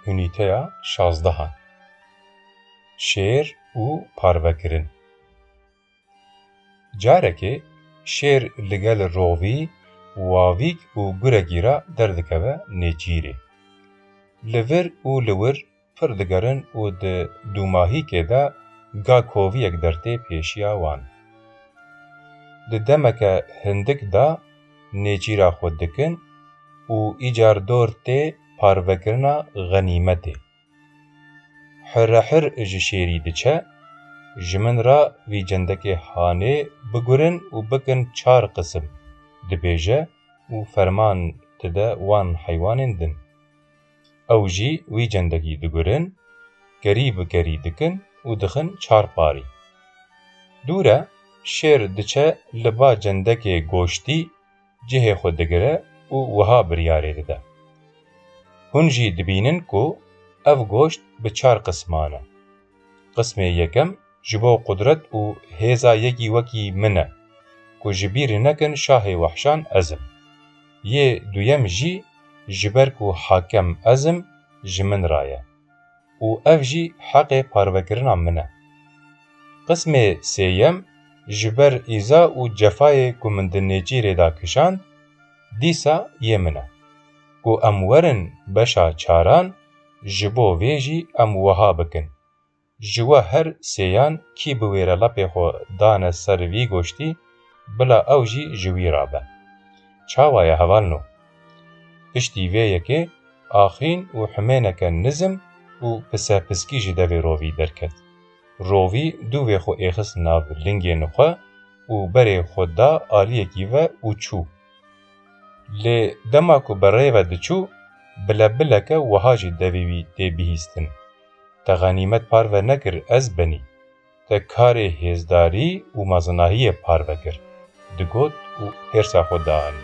Unîteya şazdehan Şêr û parvekirin Carekê şêr li gel rovî, wavîk û gurekî re derdikeve nêçîrê. Li vir û li wir pir digerin û di dûmahîkê de ga koviyek dertê pêşiya wan. Di demeke hindik de nêçîra xwe dikin û îcar dor tê parvekirina xenîmetê. Hirehir ji şêrî diçe, ji min re vî cendekê hanê bigurin û bikin çar qisim, dibêje û ferman dide wan heywanên din. Ew jî wî cendekî digurin, kerî bi kerî dikin û dixin çar parî. Dûr e, şêr diçe li ba cendekê goştî cihê xwe digire û wiha biryarê dide, Hûn jî dibînin ku ev goşt bi çar qisman e. Qismê yekem ji bo qudret û hêza yekî wekî min e, ku ji bîr nekin şahê wehşan ez im. Yê duyem jî ji ber ku hakem ez im ji min re ye û ev jî heqê parvekirina min e. Qismê sêyem ji ber îza û cefayê ku min di Nêçîrê de kişand, dîsa yê min e. Ku em werin beşa çaran ji bo vê jî em wiha bikin. Ji we her sêyan kî bi wê re lapê xwe dane ser vî goştî, bila ew jî ji wî re be. Çawa ye hevalno? Piştî vê yekê axîn û himêneke nizm û pisepiskî ji devê rovî derket. Rovî dû vê xwe êxist nav lingên xwe û berê xwe da aliyekî ve û çû. Lê dema ku bi rê ve diçû, bile bileke wiha jî devê wî tê bihîstin. Te Xanîmet parve nekir ez benî. Te karê hêzdarî û mezinahiyê parve kir, digot û hêrsa xwe dianî.